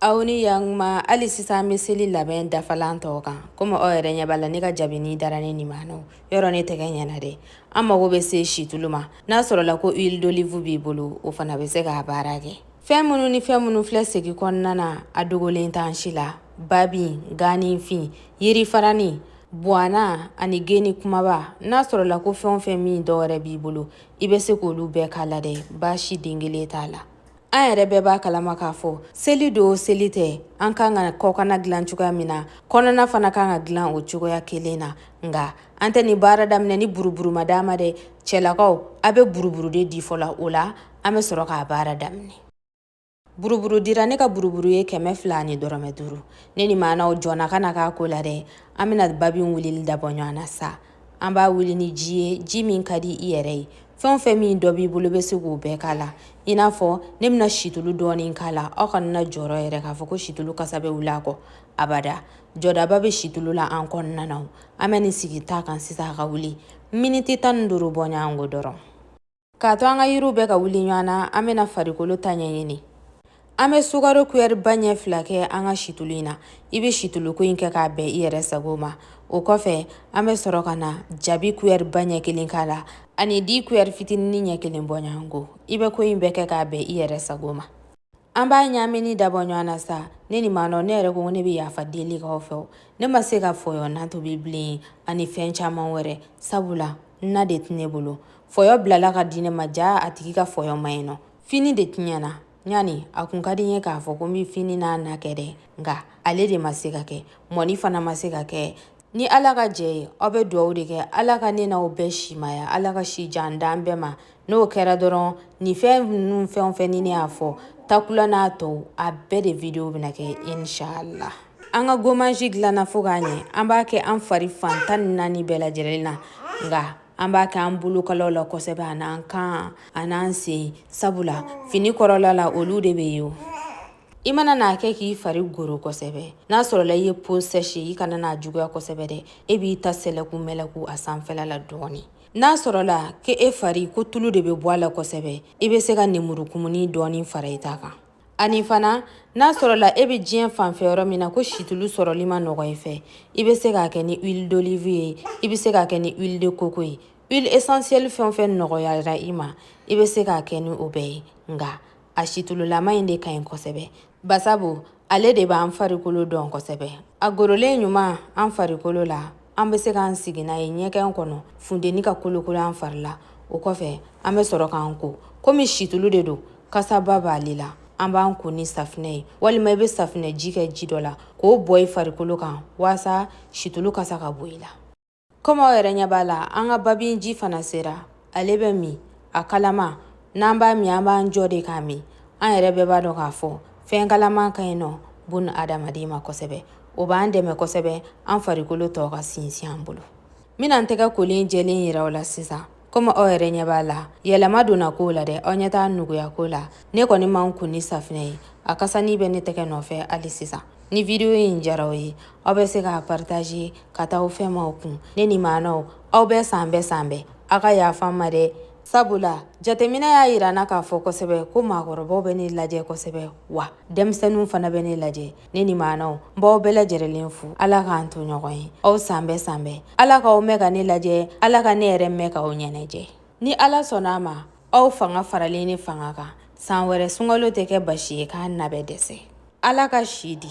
aw ni yankuma hali sisan bɛ seli labɛn dafalan tɔw kan komi aw yɛrɛ ɲɛ b'a la ne ka jabini dara ne nin ma nɔ yɔrɔ ne tɛgɛ ɲɛna dɛ an mago bɛ se situlu ma n'a sɔrɔla ko huile d'olive b'i bolo o fana bɛ se k'a baara kɛ fɛn minnu ni fɛn minnu filɛ segi kɔnɔna na a dogolen t'an si la babin ganifin yirifarani buwana ani geni kumaba n'a sɔrɔla ko fɛn o fɛn min dɔ wɛrɛ b'i bolo i bɛ se k'olu bɛɛ k'a la dɛ baasi den kelen t'a la an yɛrɛ bɛɛ b'a kalama k'a fɔ seli don seli tɛ an kan ka kɔkana dilan cogoya min na kɔnɔna fana kan ka dilan o cogoya kelen na nka an tɛ nin baara daminɛ ni buruburu ma d'an ma dɛ cɛlakaw aw bɛ buruburu de di fɔlɔ o la an bɛ sɔrɔ k'a baara daminɛ buruburu dira ne ka buruburu ye kɛmɛ fila ani dɔrɔmɛ duuru ne ni maanaw jɔnna ka na k'a ko la dɛ an bɛna babin wulili dabɔ ɲɔgɔn na sa an b'a wuli ni ji ye ji min ka di i yɛrɛ ye fɛn o fɛn min dɔ b'i bolo bɛ se k'o bɛɛ k'a la i n'a fɔ ne bɛna situlu dɔɔni k'a la aw kana na jɔrɔ yɛrɛ k'a fɔ ko situlu kasa bɛ wuli a kɔ abada jɔdaba bɛ situlu la an kɔnɔna na an bɛ nin sigi ta kan sisan a ka wuli miniti tan ni duuru bɔ ɲɔgɔn ko dɔrɔn K'a to an ka yiriw bɛ ka wuli ɲɔgɔn na an bɛna farikolo ta ɲɛɲini an bɛ sukaro kuyɛri ba ɲɛ fila kɛ an ka situlu in na i bɛ situluko in kɛ k'a bɛn i yɛrɛ sago ma o kɔfɛ an bɛ sɔrɔ ka na jabi kuyɛri ba ɲɛ kelen k'a la ani di kuyɛri fitinin ɲɛ kelen bɔɲɔgɔnko i bɛ ko in bɛɛ kɛ k'a bɛn i yɛrɛ sago ma an b'a ɲaamini dabɔ ɲɔgɔn na sa ne ni maa nɔ ne yɛrɛ ko ne bɛ yafa deli k'aw fɛ ne ma se ka fɔyɔ na tobi bilen ani fɛn caman wɛrɛ sabula na de tɛ ne bolo fɔyɔ bilala ka di ne ma jaa a tigi ka fɔyɔ ma ɲɛ nɔ fini de tiɲɛna ɲani a kun ka di n ye k'a fɔ ko n bɛ fini n'a na kɛ dɛ nka ale de ma se ka kɛ mɔni fana ma se ka kɛ ni ala ka jɛ ye aw bɛ dugawu de kɛ ala ka ne n'aw bɛɛ simaya ala ka si jan d'an bɛɛ ma n'o kɛra dɔrɔn nin fɛn ninnu fɛn o fɛn ni ne y'a fɔ takula n'a tɔw a bɛɛ de video bɛna kɛ inshallah an ka gommage dilanna fo k'a ɲɛ an b'a kɛ an fari fan tan ni naani bɛɛ lajɛlen na nka an b'a kɛ an bolokalaw la kosɛbɛ an'an kan an'an sen sabula fini kɔrɔla la olu de bɛ ye o i mana n'a kɛ k'i fari goro kosɛbɛ n'a sɔrɔla i ye peau sèche i kana n'a juguya kosɛbɛ dɛ e b'i ta sɛlɛku mɛlɛku a sanfɛla la dɔɔni n'a sɔrɔla ko e fari ko tulu de bɛ bɔ a la kosɛbɛ i bɛ se ka nemuru kumuni dɔɔni fara i ta kan ani fana n'a sɔrɔla e bɛ diɲɛ fanfɛ yɔrɔ min na ko situlu sɔrɔli man nɔgɔ i fɛ i bɛ se k'a kɛ ni huile d'olive ye i bɛ se k'a kɛ ni huile de coco ye huile essentielle fɛn o fɛn nɔgɔyara i ma i bɛ se k'a kɛ ni o bɛɛ ye nka a sitululama in de ka ɲi kosɛbɛ basabu ale de b'an farikolo dɔn kosɛbɛ a gorolen ɲuman an farikolo la an bɛ se k'an sigi n'a ye ɲɛgɛn kɔnɔ funteni ka kolokolo an fari la o kɔfɛ an bɛ sɔrɔ k'an ko komi situlu de don kasaba b'ale la an b'an ko ni safinɛ ye walima i bɛ safinɛ ji kɛ ji dɔ la k'o bɔn i farikolo kan walasa situlu kasa ka bɔ i la Komi aw yɛrɛ ɲɛ b'a la an ka babin ji fana sera ale bɛ min a kalama n'an b'a min an b'an jɔ de k'a min an yɛrɛ bɛɛ b'a dɔn k'a fɔ fɛn kalaman ka ɲi nɔ bon adamaden ma kosɛbɛ o b'an dɛmɛ kosɛbɛ an farikolo tɔ ka sinsin an bolo n bɛna n tɛgɛ kolen jɛlen yira aw la sisan komi aw yɛrɛ ɲɛ b'a la yɛlɛma donna ko la dɛ aw ɲɛ t'a nuguya ko la ne kɔni ma n ko ni safinɛ ye a kasani bɛ ne tɛgɛ nɔfɛ hali sisan ni vidiyo in diyara aw ye aw bɛ se k'a partaje ka taa aw fɛnmaw kun ne ni maanaw aw bɛɛ san bɛɛ san bɛɛ aw ka yafa n ma dɛ sabula jateminɛ y'a yira n na k'a fɔ kosɛbɛ ko maakɔrɔbaw bɛ ne lajɛ kosɛbɛ wa denmisɛnninw fana bɛ ne lajɛ ne ni maanaw n b'aw bɛɛ lajɛrɛlen fo ala k'an to ɲɔgɔn ye aw san bɛɛ san bɛɛ ala k'aw mɛɛn ka ne lajɛ ala ka ne yɛrɛ mɛɛn k'aw ɲɛnajɛ ni ala sɔnna a ma aw fanga faralen ne fanga kan san wɛrɛ sunkalo tɛ kɛ baasi ye kana bɛɛ dɛsɛ ala ka si di